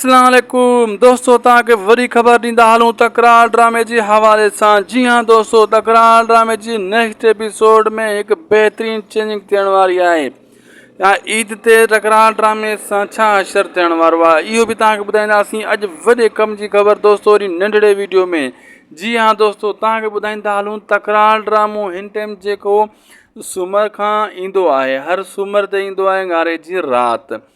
اسلام عليڪم دوستو توهان کي وري خبر ڏيندا هلون تڪرار ڊرامي جي حوالي سان جي ها دوستو تڪرار ڊرامي جي نيڪسٽ ايپيسوڊ ۾ هڪ بهترين چينجنگ ٿيڻ واري آهي يا عيد تي تڪرار ڊرامي سان ڇا حشر ٿيڻ وارو آهي اهو به توهان کي ٻڌائينداسين اڄ وڏي ڪم جي خبر دوستو وري ننڍڙي ويڊيو ۾ جي ها دوستو توهان کي ٻڌائيندا هلون تڪرار ڊرامو هن ٽائم جيڪو سومر کان ايندو آهي هر سومر تي ايندو آهي ڱاري جي رات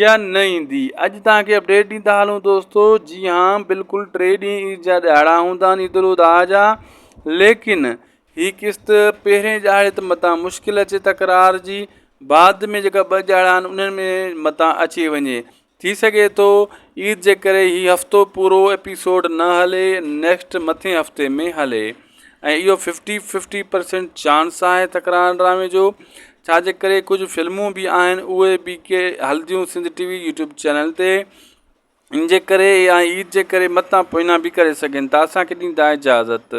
يا نه ايندي اڄ توهان کي اپڊيٽ ڏيندا هلون دوستو جي ها بلڪل ٽي ڏينهن عيد جا ڏهاڙا هوندا آهن عيد الاضحيٰ جا ليڪن هي قسط پهرين ڏهاڙي ته متان مشڪل اچي تڪرار جي بعد ۾ جيڪا ٻه ڏهاڙا آهن انهن ۾ متان اچي وڃي ٿي سگهي ٿو عيد جي ڪري هي هفتو پورو ايپيسوڊ نه هلي نيڪسٽ مٿين هفتي ۾ هلي ۽ اهو ففٽي ففٽي پرسينٽ چانس آهي تڪرار ڊرامي جو ڇاجي ڪري ڪجهه فلمون بي آهن اهي بي ڪي هلديون Sindh T V YouTube channel تي ان جي ڪري يا عيد جي ڪري متان پوئنا بي ڪري سگهن ٿا اسانکي ڏيندا اجازت